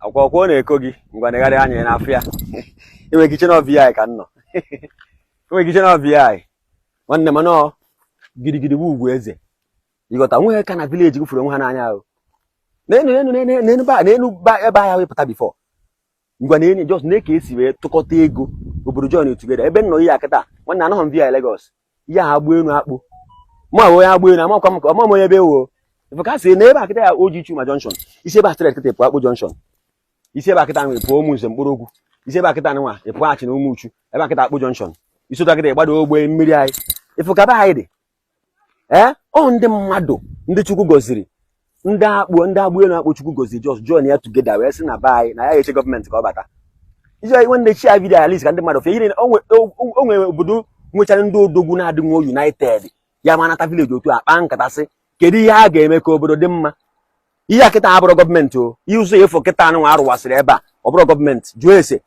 akwụkwọ ọ na-eko gị ngwa negharịa anya na-afụ ya i nwere ike iche na ọ VI ka m nọ i nwere ike iche na ọ VI nwanne m nọọ gidigidi bụ ugwu eze ịghọta nweghị ka na vileji gị fụrụ onwe ha n'anya ahụ n'enu n'enu n'enu ba n'enu ba ebe ahịa wepụta bifọ ngwa na enyi jos na-eke esi wee tụkọta ego obodo join tugeda ebe m nọ ihe a kịta nwanne anọghị m VI Lagos ihe a Agbaenu Akpo ma onye Agbaenu amakwa m ọ ma m onye ebe ewo ị fụ ka i si na ebe a kịta ya oji chuma junction i si ebe a straight kịta pụọ Akpo junction i si ebe a kịta nwa pụọ Umunze Nkpologwu i si ebe a kịta nwa ị pụọ Achina Umuchu ebe a kịta Akpo junction i si ụta kịta ị gbada ogbe mmiri anyị ị fụ ka be anyị dị ee ọ ndị mmadụ ndị chukwu gọziri ndị Akpo ndị Agbaenu Akpo chukwu gọziri jos join ya tugeda wee sị na be anyị na ya ga-eche gọọmenti ka ọ bata iji anyị nwanne share vidio a at least ka ndị mmadụ fụ ihe o nwere obodo nwechara ndị odogwu na-adịnwu united ya ma nata vileji otu a kpaa nkata sị kedu ihe a ga-eme ka obodo dị mma ihe a kịta abụrọ gọọmenti o ihe ụzọ ị fụ kịta nwa a rụwasịrị ebe a ọ bụrọ gọọmenti jụọ ese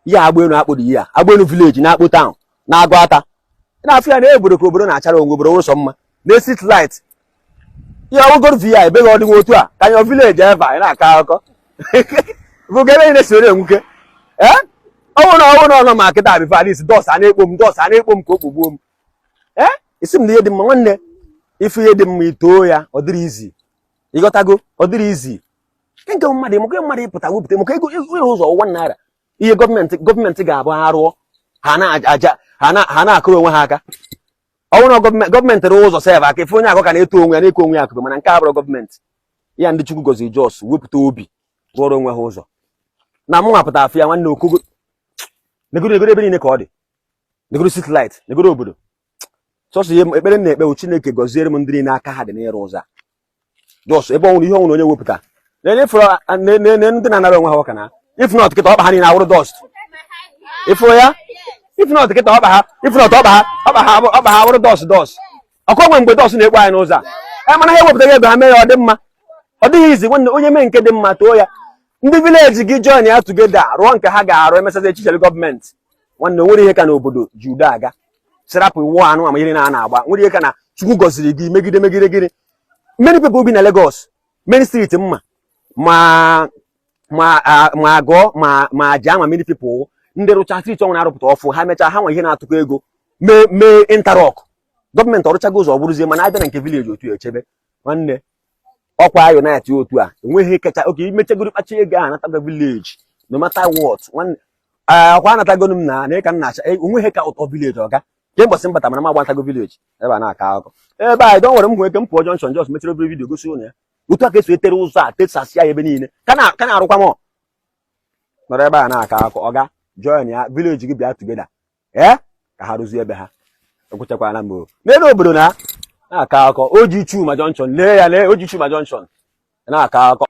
ihe a Agbaenu Akpo dị ihe a Agbaenu vileji na Akpo taụn na Aguata na-afụ ya na obodo ka obodo na-achara o nwe obodo nwụrụ sọ mma na street light ihe ọgụgụrụ VI ebeghị ọdịnwa otu a ka nyọ vileji eva anyị na-akọ akụkọ bụ ga ebe anyị na-esoro enwuke ee ọnwụ na ọnwụ na ọnọ ma kịta bifo dis dọst a na-ekpo m dọst a na-ekpo m ka o kpogbuo m ee isi m na ihe dị mma nwanne ị fụ ihe dị mma i too ya ọ dịrọ izi ị ghọtago ọ dịrọ izi nke mmadụ maka mmadụ ịpụta wepụta maka ego ịrụ ụzọ ụwa naira ihe gọọmenti gọọmenti ga-abụ ha rụọ ha na-aja ha na-akụrụ onwe ha aka ọ bụrụ na gọọmenti rụọ ụzọ sef aka ị fụ onye akụ ka na-eto onwe ya na-eko onwe ya akụkụ mana nke a abụrọ gọọmenti ya ndị Chukwu gọziri jos wepụta obi rụọrọ onwe ha ụzọ na mụ nwa pụta afụ ya nwanne okogo negoro negoro ebe niile ka ọ dị negoro street light negoro obodo sọsọ ihe ekpere m na-ekpe bụ chineke gọziere m ndị niile aka ha dị n'ịrụ ụzọ jos ebe ọ wụrụ ihe ọ wụrụ onye wepụta na-enye ndị na-anara onwe ha ọka na ifnọt kịta ọkpa ha niile awụrụ dọst ị fụrụ ya ifnọt kịta ọkpa ha ifnọt ọkpa ha ọkpa ha ọkpa ha awụrụ dọst dọst ọkụ o nwe mgbe dọst na-ekpo anyị n'ụzọ a e mana ha ewepụtaghị ego ha mee ya ọ dị mma ọ dịghị izi nwanne onye mee nke dị mma too ya ndị vileji gị join ya tugeda rụọ nke ha ga-arụ emesazi echichele gọọmenti nwanne nwere ihe ka na obodo ji udo aga sị rapụ iwu anụ ama ihe na a na-agba nwere ihe ka na chukwu gọziri gị megide megide gịnị many people bi na Lagos many street mma ma ma ma Ago ma ma Ajah ma many people ndị rụcha street ọ wụ na a rụpụta ọfụ ha mechaa ha nwe ihe na-atụkọ ego mee mee interlock gọọmenti ọ rụchago ụzọ ọ bụrụzie mana abịa na nke vileji otu echebe nwanne ọkwa anyị na-ati otu a enweghị kacha oke imechagoro kpacha ego a natago village no matter what ọkwa anatagonu m na na ịka m na-acha e, o nweghị ka ụtọ village ọga ke mbọsị m bata mana m agbatago village ebe a na-aka akụkọ ebe anyị dọ nwere m ike m pụọ junction just mechara obere video gosi ụnụ ya otu a ka esi etere ụzọ a tesasịa ya ebe niile ka na-arụkwa m nọrọ ebe a na-aka akụkọ ọga join ya village gị bịa together ee ka ha rụzie ebe ha ekwuchakwala m n'elu obodo na na-akọ akụkọ oji chuma junction lee ya lee oji chuma junction na-akọ akụkọ